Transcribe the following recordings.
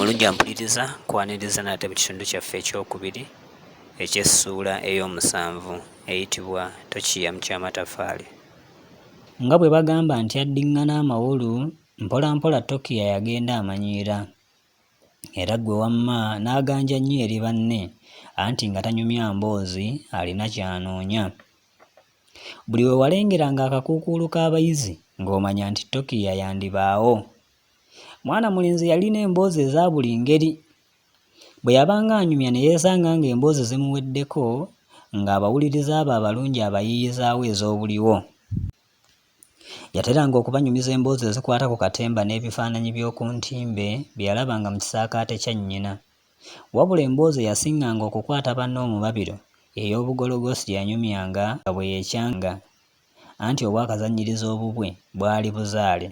omulungi ampuliriza kwaniriza nate mu kitundu kyaffe ekyokubiri eky'essuula ey'omusanvu eyitibwa tokiya mu ky'amataffaali nga bwe bagamba nti addiŋŋana amawolu mpolampola tokiya yagenda amanyiira era ggwe wamma n'aganja nnyo eri banne anti nga tanyumya mboozi alina ky'anoonya Buli we walengeranga akakuukuulu k'abayizi ng'omanya nti Tokiya yandibaawo. Mwana mulenzi yalina emboozi eza buli ngeri. Bwe yabanga anyumya ne yeesanga ng'emboozi zimuweddeko, ng'abawuliriza abo abalungi abayiiyizaawo ez'obuliwo. Yateranga okubanyumiza emboozi ezikwata ku katemba n'ebifaananyi by'oku ntimbe bye yalabanga mu kisaakaate kya nnyina. Wabula emboozi eyasinganga okukwata banne omubabiro ey'obugologoosi gye yanyumyanga nga bwe yeekyanga anti obwakazannyirizi obubwe bwali buzaale.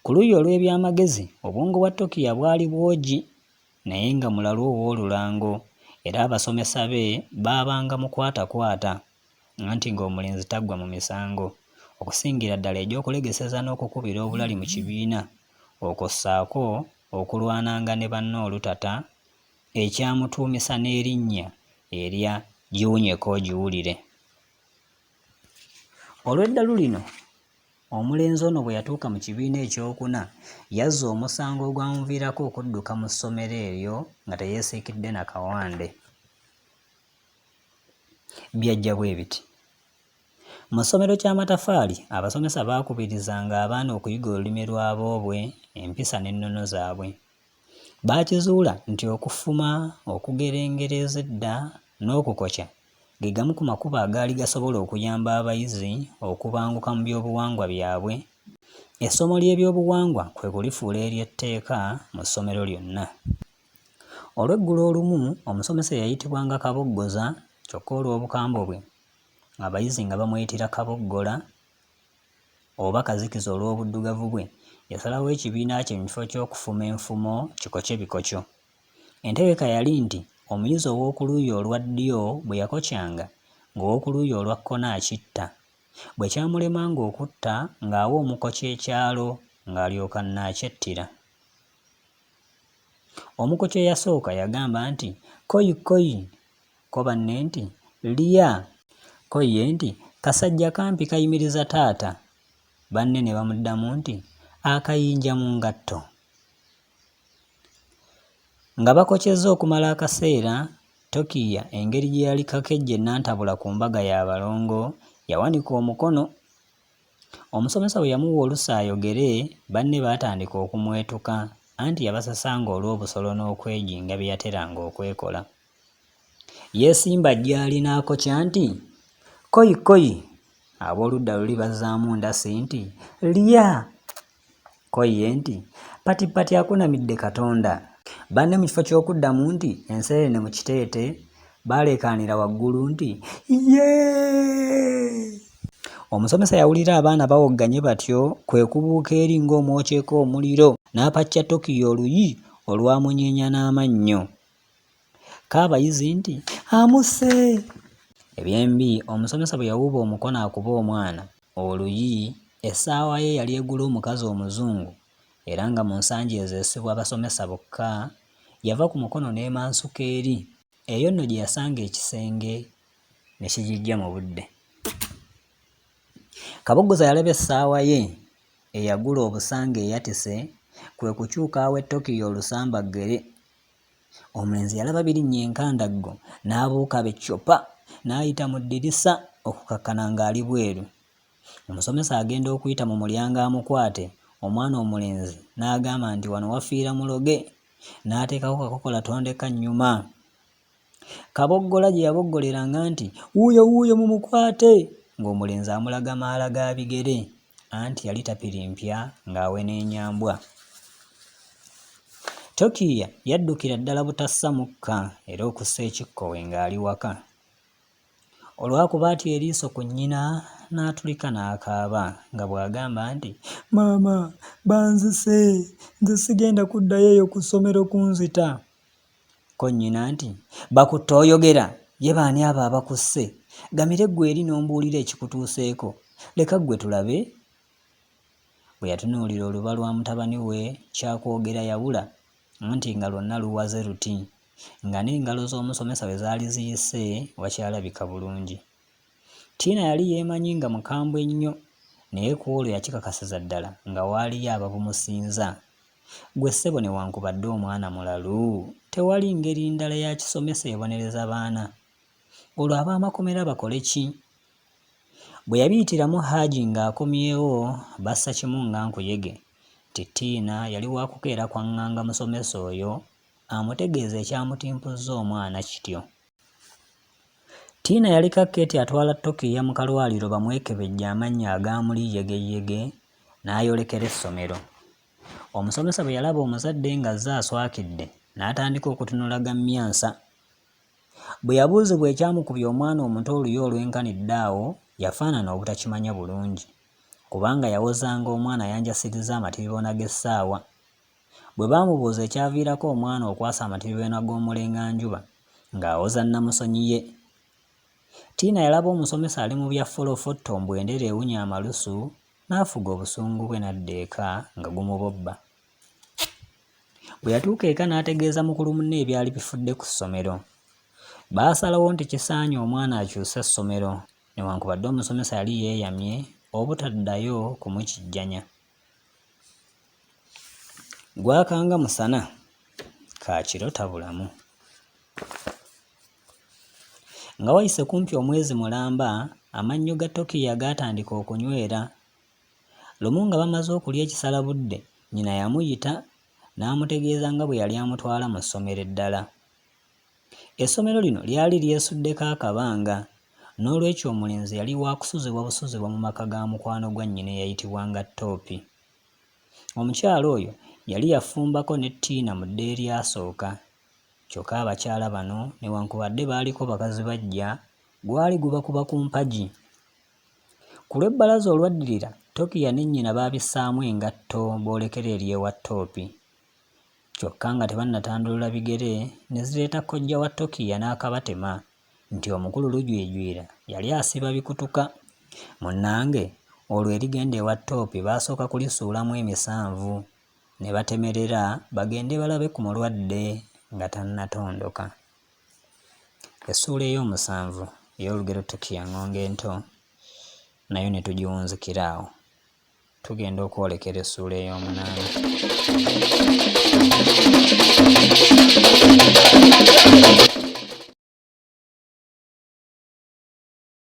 Ku luuyi olw'ebyamagezi, obwongo bwa Tokiya bwali bwogi naye nga mulalu ow'olulango era abasomesa be baabanga mukwatakwata. anti ng'omulenzi taggwa mu misango okusingira ddala egy'okulegeseza n'okukubira obulali mu kibiina okwo ssaako okulwananga ne banne olutata ekyamutuumisa n'erinnya erya Giwunyeko Ogiwulire. Olw'eddalu lino, omulenzi ono bwe yatuuka mu kibiina ekyokuna yazza omusango ogwamuviirako okudduka mu ssomero eryo nga teyeesiikidde na kawande. byajja bwe biti. Mu ssomero ky'amatafaali, abasomesa baakubirizanga abaana okuyiga olulimi lwa boobwe, empisa n'ennono zaabwe. Baakizuula nti okufuma, okugera engero ez'edda, n'okukokya ge gamu ku makubo agaali gasobola okuyamba abayizi okubanguka mu by'obuwangwa byabwe. Essomo ly'ebyobuwangwa kwe kulifuula ery'etteeka mu ssomero lyonna. Olweggulo olumu omusomesa eyayitibwanga Kaboggoza kyokka olw'obukambwe bwe, abayizi nga bamuyitira Kaboggola oba Kazikiza olw'obuddugavu bwe, yasalawo ekibiina kye mu kifo ky'okufuma enfumo kikoce bikoco. Entegeka yali nti omuyizi ow'oku luuyi olwa ddyo bwe yakocanga, ng'ow'oku luuyi olwa kkono akitta. Bwe kyamulemanga okutta ng'awa omukoci ekyalo ng'alyoka annaakyettira. Omukoci eyasooka yagamba nti, Koi, koi! Ko banne nti, Lya! Ko ye nti, Kasajja kampi kayimiriza taata! Banne ne bamuddamu nti, Akayinja mu ngatto! Nga bakocezza okumala akaseera, Tokiiya engeri gye yali kakejje Nantabula ku mbaga y'abalongo, yawanika omukono Omusomesa bwe yamuwa olusa ayogere, banne baatandika okumwetuka anti yabasasanga olw'obusolo n'okwejinga bye yateranga okwekola. Yeesimba gy'ali n'akokya nti, Kkoyi kkoyi! Ab'oludda luli bazzaamu ndasi nti, Lya! Ko ye nti, Patipati akunamidde Katonda! Banne mu kifo ky'okuddamu nti, Enseenene mu kiteete, baaleekaanira waggulu nti, Yee! Omusomesa yawulira abaana bawogganye batyo, kwe kubuuka eri ng'omwokyeko omuliro, n'apaccya Tokyo oluyi olwamunyeenya n'amannyo. Kaabayizi nti, Amusse! Eby'embi, omusomesa bwe yawuuba omukono akube omwana oluyi, essaawa ye yali egula omukazi Omuzungu era nga mu nsangi ezo esibwa basomesa bokka, yava ku mukono n'emansuka eri. Eyo nno gye yasanga ekisenge ne kigiggya mu budde. Kaboggoza yalaba essaawa ye eyagula obusa ng'eyatise, kwe kukyuka awe Tokyo olusambaggere. Omulenzi yalaba birinnya enkandaggo n'abuuka be ccupa n'ayita mu ddirisa okukakkana ng'ali bweru. Omusomesa agenda okuyita mu mulyango amukwate omwana omulenzi n'agamba nti wano wafiira muloge n'ateekako kakokola tondeka nnyuma. Kaboggola gye yaboggoleranga nti wuuyo wuuyo mumukwate ng'omulenzi amulaga maala ga bigere. Anti yali tapirimpya ng'aweneenya mbwa. Tokiiya yaddukira ddala butassa mukka era okussa ekikkowe ng'ali waka. Olwakuba atya eriiso ku nnyina n'atulika n'akaaba nga bw'agamba nti, Maama banzise, nze sigenda kuddayo eyo ku ssomero kunzita. Ko nnyina nti, Bakutte oyogera? Ye baani abo abakusse? Gamire ggwe eri n'ombuulira ekikutuuseeko. Leka ggwe tulabe. Bwe yatunuulira oluba lwa mutabani we kya kwogera yabula, anti nga lwonna luwaze luti, nga n'engalo z'omusomesa we zaali ziyise wakyalabika bulungi. Tina yali yeemanyi nga mukambwe nnyo naye ku olwo yakikakasiza ddala nga waaliyo ababumusinza. Ggwe ssebo newankubadde omwana mulalu, tewali ngeri ndala ya kisomesa ebonereza baana? Olwo ab'amakomera bakole ki? Bwe yabiyitiramu Haji ng'akomyewo bassa kimu nga nkuyege nti Tina yali wakukeera kwang'anga musomesa oyo amutegeeze ekyamutimpuzza omwana kityo. Tiina yaliko Keeti atwala Tokiiya mu kalwaliro bamwekebejje amannya agaamuli yegeyege n'ayolekera essomero. Omusomesa bwe yalaba omuzadde ng'azze aswakidde n'atandika okutunula gammyansa. Bwe yabuuzibwa ekyamukubya omwana omuto oluyi olwenkanidde awo yafaanana obutakimanya bulungi kubanga yawozanga omwana yanjasirizza amatiribona g'essaawa. Bwe baamubuuza ekyaviirako omwana okwasama Tibibena Gwomulenganjuba ng'awoza nnamusonyi ye, Tiina yalaba omusomesa ali mu bya folofotto mbu endere ewunya amalusu n'afuga obusungu bwe n'adda eka nga gumubobba. Bwe yatuuka eka n'ategeeza mukulu munne ebyali bifudde ku ssomero. Baasalawo nti kisaanye omwana akyuse essomero newankubadde omusomesa yali yeeyamye obutaddayo kumukijjanya. gwakanga musana ka kiro tabulamu nga wayise kumpi omwezi mulamba amannyo ga tokiya gaatandika okunywera lumu nga bamaze okulya ekisala budde nyina yamuyita n'amutegeeza nga bwe yali amutwala mu ssomero eddala Essomero lino lyali lyesuddeko akabanga, n'olwekyo omulenzi yali wa kusuzibwa busuzibwa mu maka ga mukwano gwa nnyina eyayitibwanga Toopi. Omukyala oyo yali yafumbako ne Tiina mu dda eryasooka. Kyokka abakyala bano newankubadde baaliko bakazi baggya, gwali gubakuba ku mpagi. Ku lw'ebbalaza olwaddirira, Tokiya ne nnyina baabissaamu engatto boolekere eri ewa Toopi. kyokka nga tebannatandulula bigere ne zireeta kojja wa Tokiya n'akabatema nti omukulu Lujwijwira yali asiba bikutuka. Munnange olwo erigenda ewa Toopi baasooka kulisuulamu emisanvu ne batemerera bagende balabe ku mulwadde nga tannatondoka. Essuula eyoomusanvu ey'olugero Tokiya Ng'ongo Ento nayo ne tugiwunzikira awo. Tugenda okwolekera essuula ey'omunaana.